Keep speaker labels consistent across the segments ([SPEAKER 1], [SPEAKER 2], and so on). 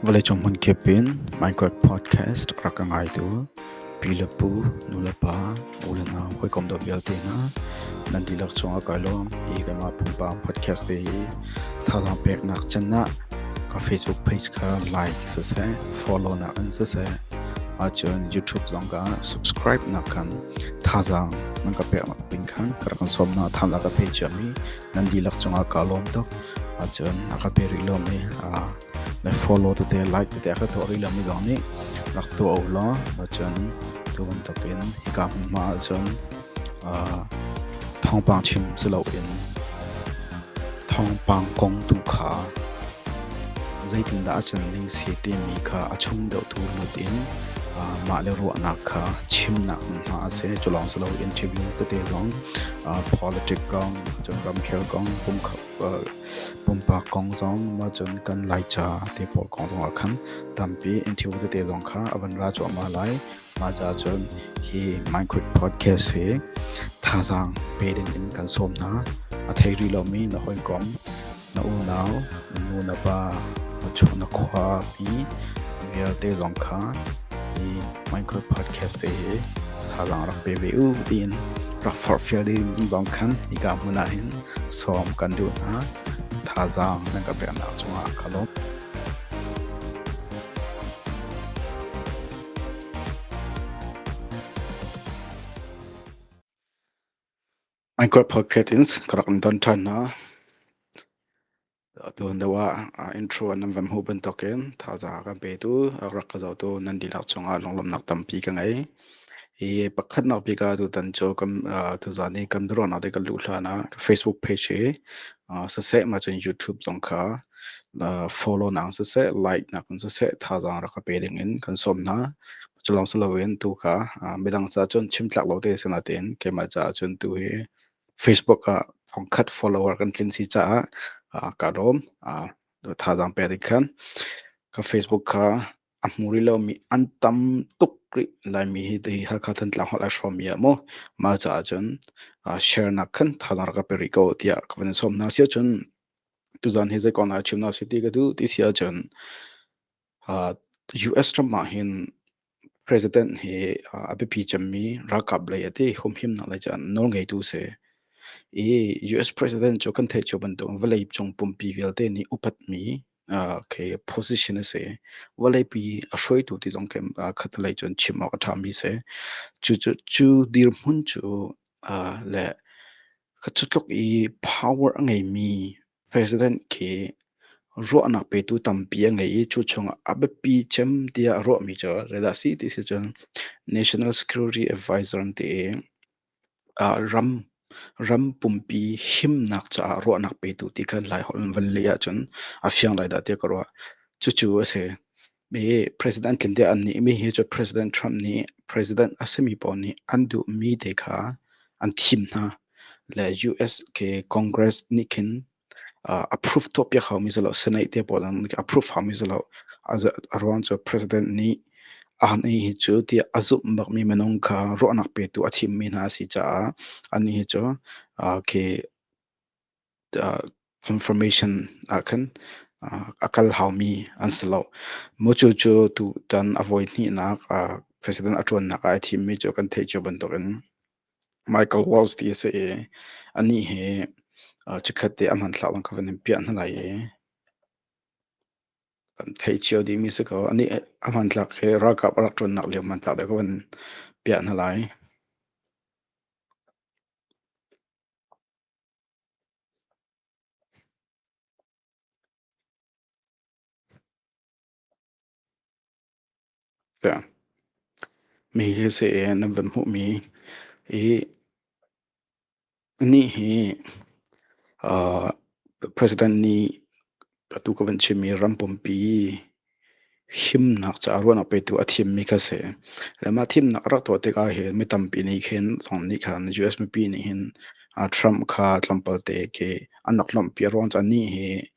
[SPEAKER 1] Vawleicung hmun kip in Minecraft podcast rak ka ngai tu pi le pu, nu le pa, u le nau, hawikom dawt vialte hna nan dihlak chung ah kai lawm hi keimah pumpak podcast te hi thazaang peknak can ah ka Facebook page kha like siseh follow nak in siseh ahcun YouTube zong ka subscribe nak khan Thazaang nan ka pek nakding khan ka rak in sawm hna. Tham a ka pe ciam i nan dihlak cungah kaa lawm tuk. Ahcun a ka pe rih lomi, aa le follow tete, like tete a ka tuah rih lomi zong nih rak tuah u law ahcun tu bantukin hika hmunhma ahcun aa thawngpang chim si loin thawngpang kong tu kha Zeitindah a can ding si timi kha a chung deuhtu lut in mahle ruahnak kha chimnak hmunhma a si. Cu lawng si loin ṭhim tete zong politic kong, cun ramkhel kong, pumpak kong zong, mah cun kan Laica te pawl kong zongah khan tampi in ṭhim tete zong kha a van ra cuahmah lai. Mah caahcun hi Minecraft podcast hi thazaang pe dingin kan sawm hna. A thei rih lomi na hawikom, na unau, na nu na pa, na cu na khuami vialte zong kha hi Minecraft podcast te hi thazaang rak pe ve u tiin rak forhfial ding zong khan hika hmun ah hin sawm kan duh hna. Thazaang nan ka peknak cungah ka lawm. Hmaikolh phokhet in ka rak in don ṭhan hna. Atu hnu ah intro an nan van hmuh bantukin thazaang a kan petu a rak ka zohtu nan dihlak cungah lunglawmhnak tampi ka ngei. Hi pakhatnak bik ah tutan cu kan tuzaan hi kan biaruahnak hi kan luh hlan ah Facebook page hi siseh mah cun YouTube zong kha follow nak in siseh like nak in siseh thazaang rak ka pe ding in kan sawm hna. Cu lawng si loin tu kha midang caah cun chim tlak lo te si nain keimah caah cun tu hi Facebook ah thongkhat follower kan tlin si caah kaa lawm. Thazaang pe ding khan ka Facebook kha a hmu rih lomi an tam tuk rih laimi hi ti Hakha Thantlang holh a hrawmi ah maw mah caah cun uh, share nak khan thanar ka pe rih ko tiah ka van sawm hna sia cun tuzan hi zeikon ah chim na si ti ka du ti sia cun uh, US ram ah hin president hi uh, a biapi cemmi ralkap lei ati humhim nak lei cun nawl ngeitu se i US president cu kan theih cu bantuk vawlei cung pumpi vialte nih upat mi Ah, okay, position a si. Vawleipi a hruaitu ti zong kem ah khatalei cun chim awk a ṭhami si. Cu cu cu dirhmun cu, ah, le ka cutluk i power a ngeimi president khi ruahnak petu tampi a ngei i cu chungah a biapi cem tiah a ruahmi cu, reda si ti si cun National Security Advisor an ti i, Ram pumpi himnak caah ruahnak petu ti kan Laiholh in van leh ahcun a fiang lai dah tiah ka ruah. Cucu a si. President tlinde an nih mi hi cu President Trump nih President a simi pawl nih an duhmi te kha an thim hna. Le US ke Congress nih khin approve tuahpiak haumi si lo, seneih te pawl an approve haumi si lo. A ruang cu president nih anih hi cu tiah a zumh bakmi minung kha ruahnak petu a thimmi hna a si caah anih hi cu confirmation ahkhan a kal haumi an si lo. Maw cucu tutan a voi hnihnak president a ṭuannak ah a thimmi cu kan theih cio bantukin. Michael Walsh ti a si i anih hi chikhat te a hmanthlak lang kha van in piah hna lai i kan thei cio dihmi si ko. Anih a hmanthlak hi ralkap a rak ṭuannak lio hmanthlak deuh kha van piah hna lai. Mi hi seh e nan van hmuhmi i nih hi uh, president nih atu ka van chimmi ram pumpi himnak caah ruahnak petu a thimmi kha si. Le mah thimnak rak tuah tikah hin mi tampi nih khin thawng nih khan US mipi nih hin uh, Trump kha tlawmpalte ke an rak lawmhpi a ruang cu nih hi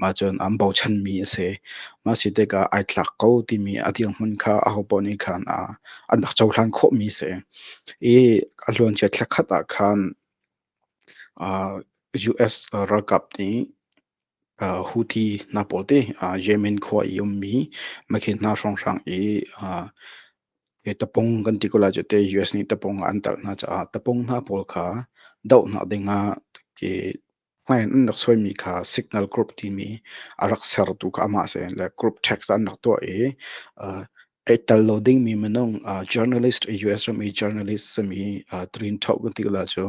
[SPEAKER 1] mah cun an bochanmi a si. Mah a si tikah ai tlak ko timi a dirhmun kha ahopaoh nih khan an rak cohlan khawhmi a si. I a luancia thla khat ah khan US ralkap nih Houthi hna pawl te Yemen khua i ummi makhi hna hrawnghrang i tapung kan ti ko lai cu ti US nih tapung ah an telh hna caah tapung hna pawl kha doh hna ding ah Hmai in an rak suaimi kha signal group timi a rak sertu kha amah a si. Le group text an rak tuah i uh, ei tel lo dingmi minung uh, journalist US rami journalist sami uh, trin thau kan ti la chu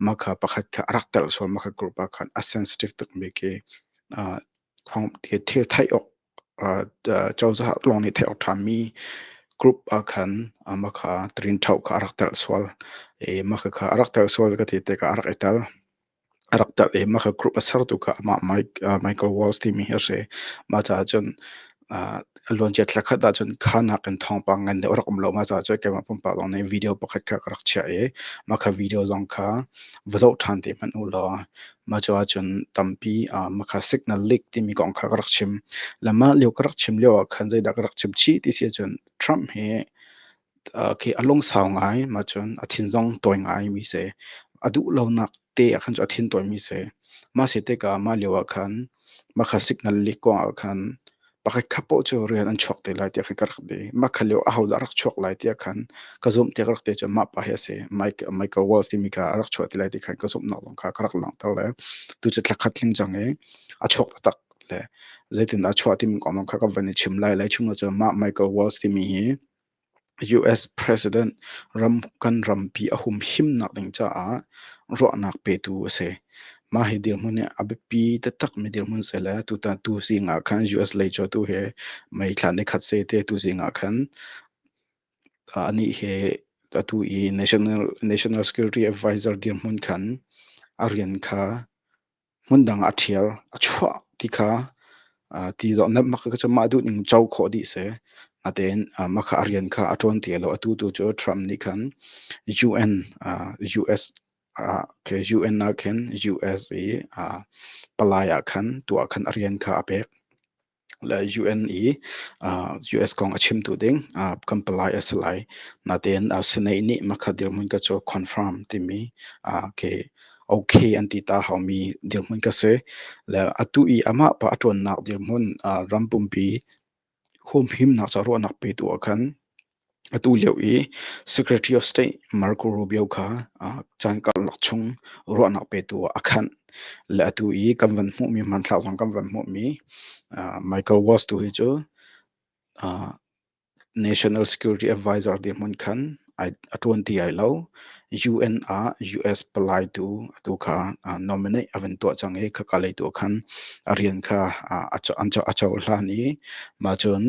[SPEAKER 1] makha pakhat kha arak tel sual makha group a khan a sensitive tukmi ke uh, khong ti thil thai ok uh, chawza long ni thai ok thami group a khan makha trin thau kha arak tel sual e makha kha arak tel sual ka ti te ka arak etal A rak ṭalh i mah kha group a sertu kha amah Michael Walls timi hi a si. Mah caah cun aa a luancia thla khat ahcun kha nakin thawngpang ngan deuh a rak um lo. Mah caah cun keimah pumpak lawng nih video pakhat kha ka rak chiah i mah kha video zong kha va zoh ṭhan ti hmanh u law mah caah cun tampi aa mah kha signal leak timi kong kha ka rak chim. Le mah lio ka rak chim lioah khan zeidah ka rak chim chih ti si ahcun Trump hi khi a lungsau ngai ma cun a thin zong tawi ngaimi si a duh lonak te ah khan cu a thin tawimi si mah si tikah mah lio ah khan mah kha signal leak kong ah khan pakhat khat poh cu rian an chuak te lai tiah khan ka rak ti mah kha lio ahodah a rak chuak lai tiah khan ka zumhti ka rak ti cu mah pa hi a si michael walsh timi kha a rak chuah ti lai ti khan ka zumhnak zong kha ka rak langhter le tu cu thlakhat tling cang i a chuak taktak le zeitin a chuah timi kong zong kha ka van i chim lai lai chung ah cun mah michael walsh timi hi US President ram kan rampi a humhimnak ding caah ruahnak petu a si. Mah hi dirhmun hi a biapi taktak mi dirhmun si le tutan tu zing ah khan US lei cu tu hi mei thla ni khat se te tu zing ah khan anih hi atu i National National Security Advisor dirhmun khan a rian kha hmundang a ṭhial, a chuah ti kha ti zong mah duh ning co khawh dih a si. Natein mah kha a rian kha a ṭuan ti lo. Atu tu cu Trump nih khan UN ah khin US i palai ah khan tuah khan a rian kha a pek. le UN i uh, US kong a chim tu ding uh, kan palai a si lai natin uh, senate nih makha dirhmun ka cho confirm timi uh, ke okay an ti ta hau mi dirhmun ka se le atu i ama pa atron nak dirhmun uh, rampumpi hum him nak cha ro nak pe tu khan Atu lio i Secretary of State Marco Rubio kha caan karlak chung ruahnak petu ah a khanh. Le atu i kan van hmuhmi, hmanthlak zong kan van hmuhmi Michael Waltz tu hi cu National Security Advisor dirhmun khan a ṭuan ti ai lo. UN ah US palai tu atu kha nominate a van tuah cang i khaka lei tu khan a rian kha a cohlan i mah cun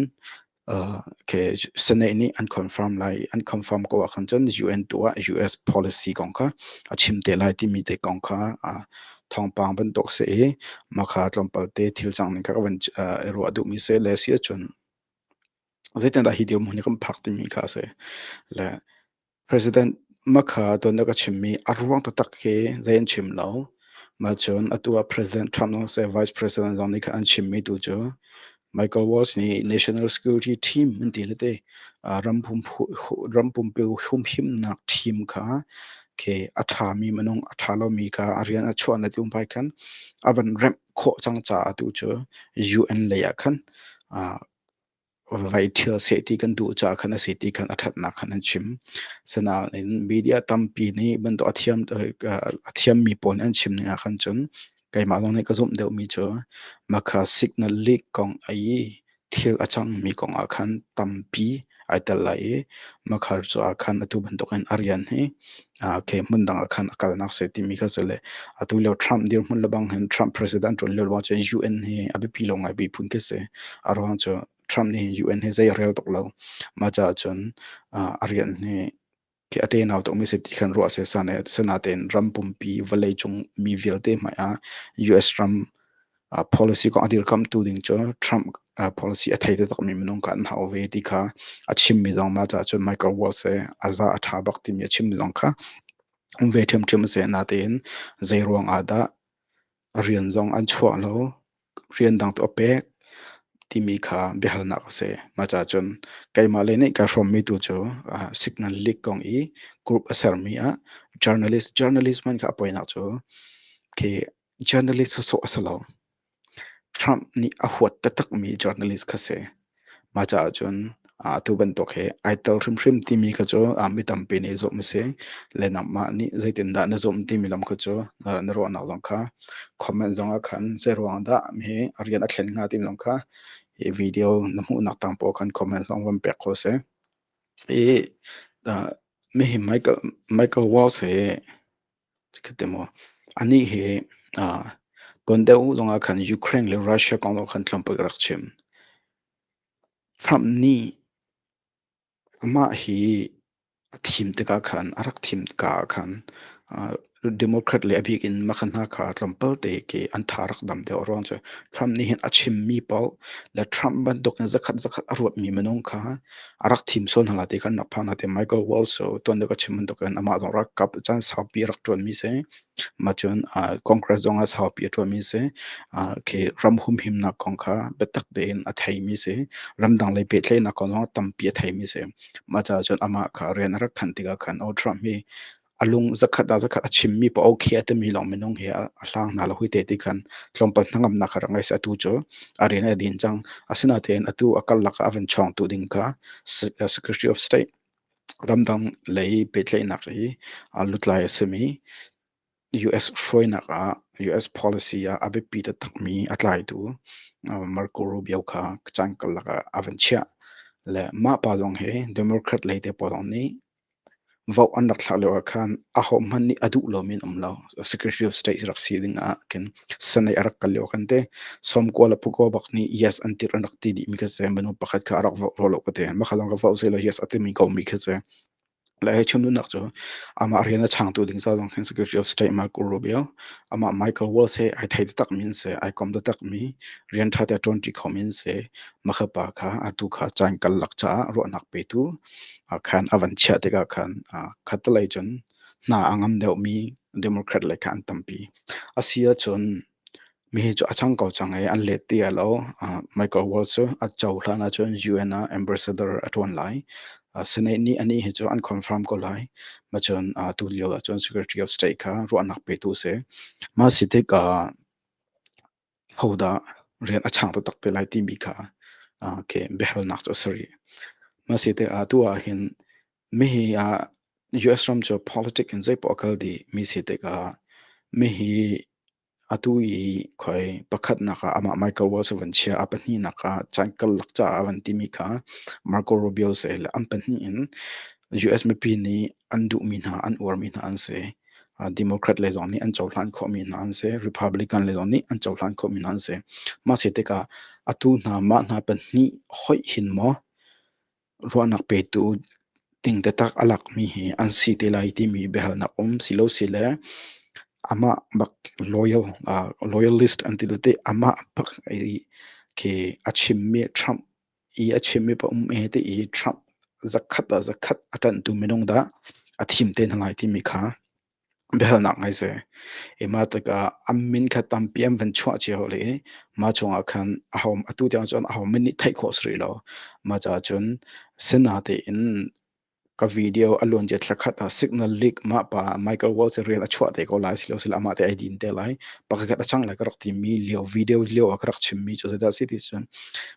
[SPEAKER 1] Senate nih an confirm lai. An confirm ko ahkhan cun UN tu ah US policy kong kha a chim te lai timi te kong kha thawngpang bantuk si i makha tlawmpal te thil cang ning kha ka van ruah duhmi si le si ahcun zeitindah hi dirhmun hi kan phak timi kha a si. Le President Makha tuan a ka chimmi a ruang taktak khi zei an chim lo. Mah cun atu ah President Trump nu seh Vice President zong nih khan an chimmi tu cu Michael Waltz nih National Security Team an ti le te ram pumpi humhimnak team kha khi a ṭhami minung a ṭha lomi kha a rian a chuan le tiin fai khan a van remh khawh cang caah tu cu UN lei ah khan Vai ṭhial seh ti kan duh caah khan a si ti khan a ṭhatnak khan an chim. Sinain media tampi nih bantuk a thiam a thiammi pawl nih an chim ning ah khan cun keimah zong nih ka zumh deuhmi cu Makha signal leak kong i thil a cangmi kong ah khan tampi ai tel lai i Makha cu ah khan atu bantukin a rian hi khi hmun dang ah khan a kalnak se timi kha se le atu lio Trump dirhmun lebang hin Trump president ṭun lio lawng cu UN hi a biapi lo ngai piphun khi se a ruang cu Trump nih UN hi zei a rel tuk lo ma caah cun a rian hi khi a tenau tuk mi se ti khan ruah se sane senate in ram pumpi vawlei cung mi vialte hmai ah US ram policy kong a dirkamhtu ding cu Trump policy a thei taktakmi minung kha an hau ve ti kha a chimmi zong mah caah cun Michael Waltz he a za a ṭha bak timi a chimmi zong kha um ve ṭhiamṭhiam a si natein zeiruang ah dah rian zong an chuah lo rian dang tu a pek timi kha biahalnak a si mah caah cun keimah le nih kai hrawmmi tu cu signal leak kong i group a sermi ah journalist journalist man kha a poinak cu khi Journalist sawsawh a si lo. Trump nih a huat taktakmi journalist kha si. Mah caah cun atu bantuk hi ai tel hrimhrim timi kha cu mi tampi nih zumh a si. Le nangmah nih zeitindah na zumh timi lam kha cu na ruahnak zong kha comment zongah khan zeiruang dah hi rian a thlen hnga timi zong kha hi video na hmuhnak tang poah khan comment zong van pek ko seh. Hi mi hi Michael Waltz hi Khatte maw. Anih hi ah tuan deuh zong ah khan Ukraine le Russia kong zong khan tlawmpal ka rak chim. Trump nih amah hi a thim tikah khan, a rak thim ka ah khan ah Democrat le a bik in mah hna kha tlawmpal te ke an tha rak dam deuh ruang cu Trump nih hin a chimmi paoh le Trump bantuk in zakhat zakhat a ruatmi minung kha a rak thim sawn hna ti kan rak phan hna ti Michael Walsh so tuan ka chim bantuk in amah zong rak kap caan saupi rak ṭuan mi si mah cun uh, congress zong ah saupi a ṭuan mi si uh, khi ram humhimnak kong kha biatak tein a thei mi si ramdang lei pehtlaihnak kong zong tampi a thei mi si mah caah cun amah kha rian a rak khan tikah khan o Trump hi a lung zakhat ah zakhat a chimmi pa okay a timi lawng minung hi a hlang hna lo hui te ti khan tlawmpal hnangamnak a rak ngei atu cu a rian a din cang asinain atu a karlak a van chawngtu ding kha secretary of state ramdang lei pehtlaihnak i lutlai a simi US hruainak ah US policy ah a biapi ta takmi a tlaitu Marco Rubio kha cangkalak ah a van chiah le mah pa zong hi Democrat lei te pa zong nih Vote an rak thlak lioah khan ahohmanh nih a duh lomi an um lo. Secretary of State rak si ding ah kan Senate a rak kal lio kan te. Sawmkua le pukua bak nih yes an tirh an rak ti dihmi ka si. Minu pakhat kha a rak vote lo ka te. Makhalam ka vote silo yes a timi komi ka si. Le he chimlunak cu amah rian a changtu ding sa zong khin Secretary of State Marco Rubio, amah Michael Walsh he ai thei takmi in se, ai kom takmi rian ṭha te ṭuanṭi khomi in se, makha pa kha atu kha caan kal lak caah ruahnak petu khan a van chiah tikah khan khattelei cun hna a ngam deuhmi Democrat lei kha an tampi. A si ahcun mihi cu a cang ko cang i an let ti a lo. Michael Waltz cu a cohlan ahcun UN ah ambassador a ṭuan lai. Senate nih anih hi cu an confirm ko lai. Macun tulio ahcun Secretary of State kha ruahnak petu a si. Mah a si tik ah hodah rian a chang taktak te lai timi kha ke biahalnak cu a si rih. Mahsite atu ahhin mihi US ram cu politic in zeipoah kal dih mi si tikah mihi atu i khoi pakhatnak ah amah Michael Waltz a van chia a pahnihnak ah caan karlak caah a van timi kha Marco Rubio si le an pahnih in US mipi nih an duhmi hna an uarmi hna an si. Democrat le zong nih an cohlan khawhmi hna an si. Republican le zong nih an cohlan khawhmi hna an si. Mah si tikah atu hna, mah hna pahnih hoih hin maw ruahnak petu ding taktak a lakmi hi an si te lai timi biahalnak um si lo si le amah bak loyal, loyalist an ti le teh amah bak i khi a chimmi Trump i a chimmi pa um e ti i Trump zakhat ah zakhat a ṭanhtu minung dah a thim te hna lai timi kha biahalnak ngai si. I mah tikah a min kha tampi an van chuah cio le i mah chungah khan aho atu tiang cun ahohmanh nih theih khawh si rih lo. Mah caah cun Senate in Ka video a luan je thlakhat a signal leak ma pa microwave se rian a chuah te ko lai silo sila amah te ai din te lai pakhat a chang lai ka rak ti mi lio video lio a ka rak chim mi cu se da si ti cun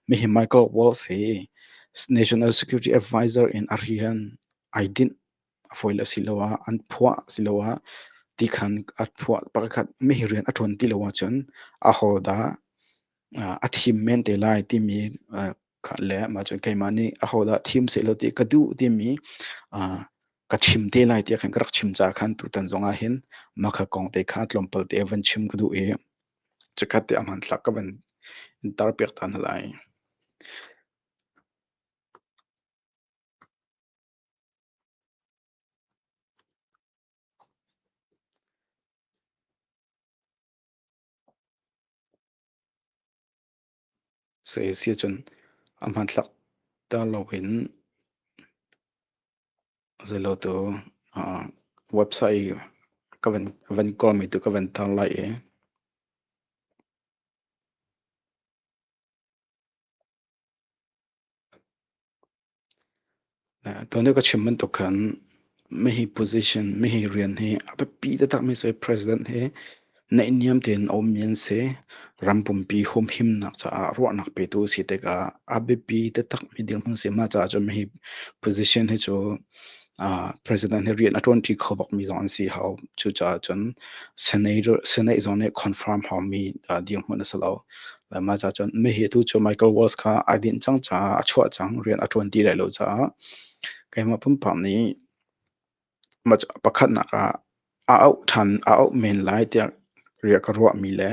[SPEAKER 1] mi hi microwave se national security advisor in a rian ai din a foi le si lo ah an phuah si lo ah ti khan a phuah pakhat mi hi rian a ṭuan ti lo ahcun a ho dah a thim men te lai timi le mah cu keimah nih ahodah thim sehlaw ti ka duh timi ka chim te lai tiah khan ka rak chim caah khan tutan zongah hin mah kha kong te kha tlawmpal te van chim ka duh i cikhat te a hmanthlak ka van tarpiak ta hna lai. Saya si ahcun a hmanthlak tar loin zeilotu website i ka van ka van kawlmi tu ka van tar lai i Tuanbia ka chim bantuk khan mihi position, mihi rian hi a biapi taktakmi si president hi naihniam tein a ummi an si. Ram pumpi humhimnak caah ruahnak petu si tikah a biapi taktakmi dirhmun si. Mah caah cun mihi position hi cu president hi rian a ṭuan ṭi kho bak mi zong an si hau. Cucaah cun Senate zong nih confirm hau mi dirhmun a si lo. Mah caah cun mah hi atu cu Michael Waltz kha ai dinh cang caah a chuah cang, rian a ṭuan ti lai lo caah keimah pumpak nih pakhatnak ah a auh ṭhan, a auh men lai tiah riah ka ruah mi le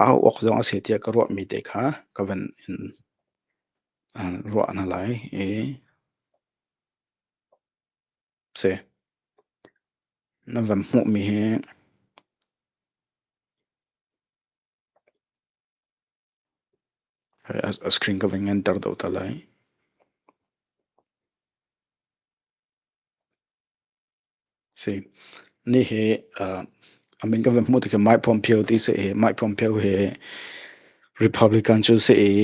[SPEAKER 1] a auh awk zong a si tiah ka ruah mi te kha ka van in ruah hna lai i Si. Na van hmuhmi hi a screen ka ving enter deuh ta lai. Si. Ni hi, uh, a min ka van hmuh tikhi Mike Pompeo ti si i, Mike Pompeo hi Republican cu si i,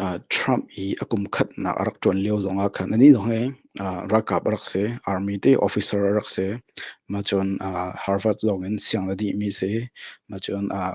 [SPEAKER 1] uh, Trump i a kum khatnak a rak ṭuan lio zong ah khan, ani zong hi, uh, ralkap a rak si, army ti officer a rak si. Mahcun, uh, Harvard zong in siang le dih mi si. Mahcun, uh,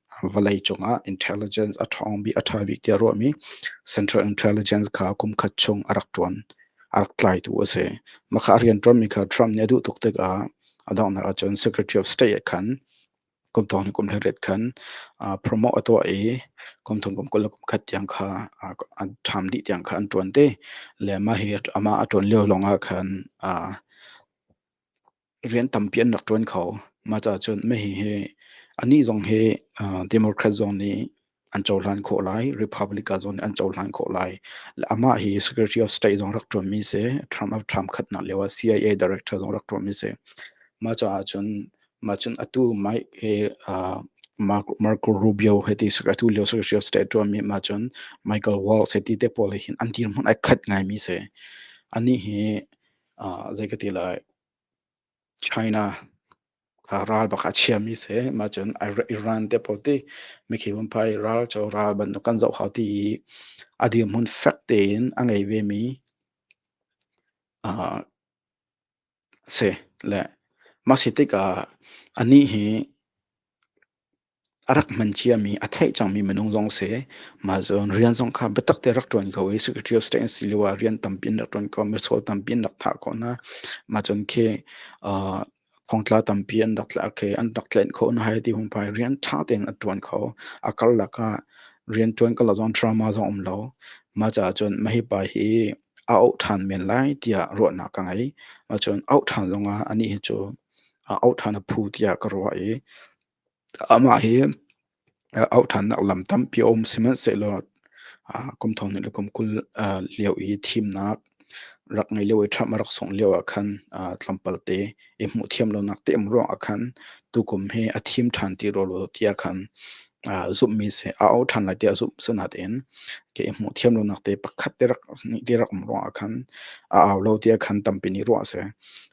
[SPEAKER 1] vawleicung ah intelligence a ṭhawng bik a ṭha bik tiah ruahmi central intelligence kha kum khat chung a rak ṭuan a rak tlaitu a si. Maka rianṭuanmi kha Trump nih a duh tuk tikah a donghnak ahcun Secretary of State khan kum thong ni kum le riat khan promote a tuah i kum thong kum kul le kum khat tiang kha an ṭham dih tiang kha an ṭuan te le mah hi amah a ṭuan lio lawngah khan rian tampi an rak ṭuan kho. Mah caah cun meheh hi anih zong hi uh, Democrat zong nih an cohlan khawh lai, Republican zong nih an cohlan khawh lai. Amah hi Secretary of State zong rak ṭuanmi si, term of Trump khatnak lio ah CIA director zong rak ṭuanmi si. Mah caah cun mah cun atu mai hi uh, Marco, Marco Rubio he ti atu lio Secretary of State ṭuanmi mah cun Michael Waltz he ti te pawl hi an dirhmun ai khat ngaimi si. Anih hi zei ka ti lai China a ral bak a chiami se ma cun Iran te po ti mi khi mun pai ral cho ral ban kan zoh hau ti i a dir mun fek tein a ngei ve mi a si le masi tikah a nih hi a rak hman ciami a theih cangmi minung zong si mah cun rian zong kha biatak te rak ṭuan ko i secretary of state an si lio ah rian tampi in rak ṭuan ko misual tampi in rak thah khawh hna mah cun khi uh, kongtla tampi an rak tla khi an rak tlen khawh na hai ti hung pai rian ṭha tein a ṭuan kho a karlak ah rian ṭuan ka la zong drama zong um lo mah caah cun mahi pa hi a auh ṭhan men lai tiah ruahnak ka ngei mah cun auh ṭhan zong ah anih hi cu auh ṭhan a phu tiah ka ruah i Amah hi auh ṭhannak lam tampi a um. Sihmanhsehlaw kum thong hnih le kum kul lio i thimnak rak ngei lio i Trump a rak sungh lio ah khan tlawmpalte i hmuh thiam lonak te um ruang ah khan tukum hi a thim ṭhan ti rua ti ah khan zumhmi si a auh ṭhan lai tiah a zumh. Asinain ke i hmuh thiam lonak te pakhat te rak hnih ti rak um ruang ah khan a au lo ti ah khan tampi nih ruah a si.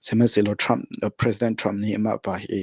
[SPEAKER 1] Sihmanhsehlaw Trump President Trump nih mah pa hi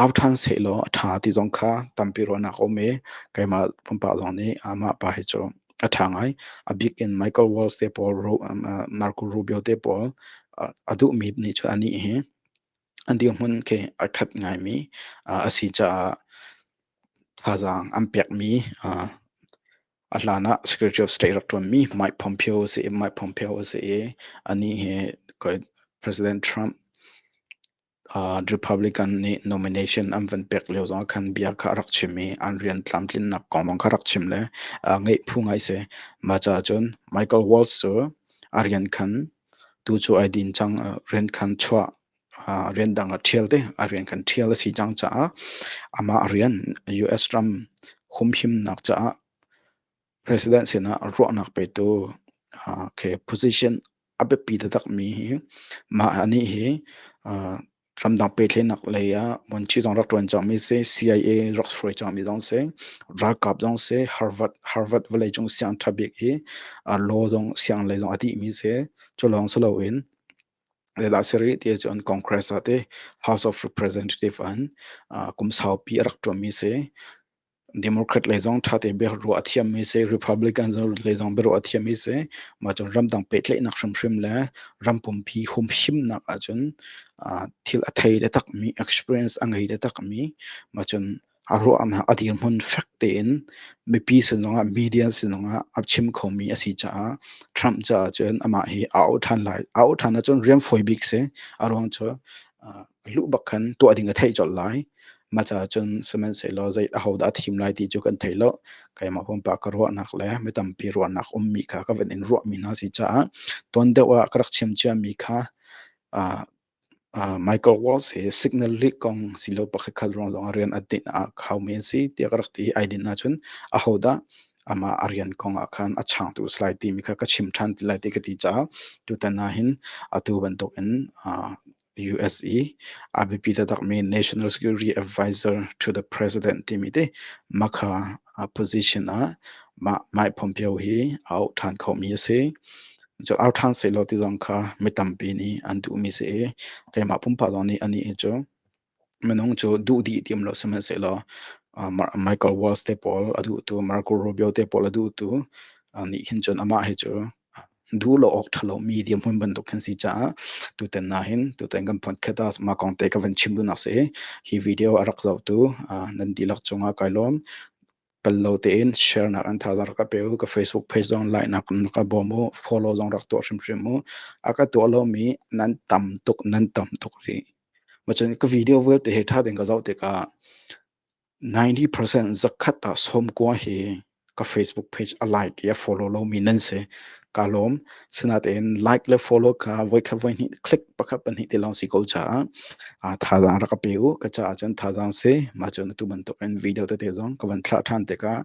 [SPEAKER 1] au ṭhan sehlaw a ṭha ti zong kha tampi ruahnak a um i keimah pumpak zong nih mah pa hi cu a ṭha ngai. A bik in Michael Waltz te pawl, Marco Rubio te pawl a duhmi nih cu a nih hi an dirhmun khi a khat ngaimi a si caah thazaang an pekmi a hlan ah Secretary of State rak ṭuanmi Mike Pompeo a si i Mike Pompeo a si i a nih hi President Trump Republican nih nomination an van pek lio zongah khan bia kha a rak chim i an rian tlamtlinnak kong bang kha rak chim le ngeih phu ngai si. Mah caah cun Michael Waltz cu a rian khan tu cu ai din cang, rian khan chuah, rian dang a ṭhial te, a rian khan ṭhial a si cang caah amah rian US ram humhimnak caah President sinah ruahnak petu uh, khi position a biapi taktak mi hi mah anih hi uh, ramdang petlenak lei ah wanchi zong rak tuan cang mi si CIA rak suai cang mi zong si ralkap zong si Harvard Harvard valley chung siang tha bik i uh, law zong siang lei zong a dih mi si chu lawng si lo in la seri ti chon congress ate house of representative an uh, kum saupi a rak tuan mi si Democrat lei zong ṭha tein biaruah ruah a thiammi si, Republican lei zong biaruah a thiammi si. Mah cu ramdang pehtlaihnak hrimhrim le ram pumpi humhimnak ahcun thil a thei le takmi, experience a ngei le takmi mah cun a ruahnak a dirhmun fek tein mipi sin zongah, media sin zongah a chim khomi a si caah Trump caah cun amah hi a auh ṭhan lai. A auh ṭhan ahcun rian fawi bik si. A ruang cu luh bak khan tuah ding a theih colh lai. Maca cun sihmanhsehlaw zei ahodah a thim lai ti cu kan thei lo. Keimah pumpak ka ruahnak le mi tampi ruahnak ummi kha ka van in ruahmi hna a si caah tuan deuh ah ka rak chim ciami kha uh, uh, Michael Waltz hi Signal League kong si lo pakhatkhat ruang zong a rian a dinh a khaumi an si tiah ka rak ti ai din ahcun ahodah amah a rian kong ah khan a changtu si lai timi kha ka chim ṭhan ti lai ti ka ti caah tutan ah hin atu bantuk in uh, US i a biapi taktakmi National Security Advisor to the President timi te makha a position ah mah mai phompio hi a uk ṭhan khomi a si. Cu au ṭhan sehlaw ti zong kha mi tampi nih an duhmi si i keimah pumpak zong nih anih cu minung cu duh dih tiam lo sihmanhsehlaw uh, Michael Walls te pawl a duhtu Marco Rubio te pawl a duhtu uh, nih hin cun amah hi cu duh lo awk ṭha lomi dirhmun bantuk kan si caah tutan na hin tutan kan podcast ah mah kong te ka van chim dunak si hi video a rak zohtu nan dihlak cungah kai lawm pallo tein share nak an thazar ka pe ka facebook page zong like nak na ka bawm u follow zong rak tuah hrimhrim u aka tuah lomi nan tam tuk nan tam tuk ri machan ka video vial te he tha den ka zoh tikah 90 percent zakhat ah sawmkua hi ka Facebook page a like i a follow lomi nan si. Kaa lawm. Sinain like le follow kha voikhat voihnih click pakhat pahnih ti lawng si ko caah ah thazaang rak ka pe u. Ka caah cun thazaang si. Mah cun atu bantuk in video tete zong ka van thlah ṭhan tikah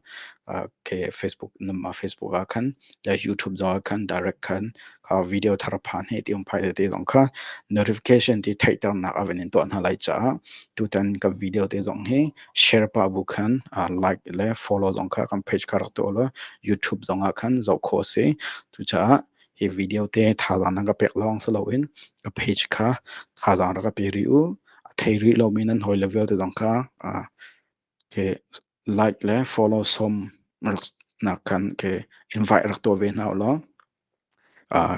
[SPEAKER 1] ah ke Facebook, ah Facebook ah khan, YouTube zong ah khan direct khan kha video thar pha hne ti um phai tete zong kha notification ti theihternak a van in tuah hna lai caah tutan ka video te zong hi share pa bu khan like le follow zong kha kan page kha rak tuah law youtube zong ah khan zoh kho si cucaah hi video te thazaang nan ka pek lawng si loin ka page kha thazaang rak ka pe ri u a thei rih lomi nan hawi le vialte zong kha ke like le follow som nak khan ke invite rak tuah ve hna u law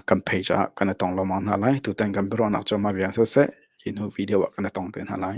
[SPEAKER 1] kan page ah kan i tong lomang hna lai tutan kan biaruahnak cu mah viang siseh hi hnu video ah kan i tong te hna lai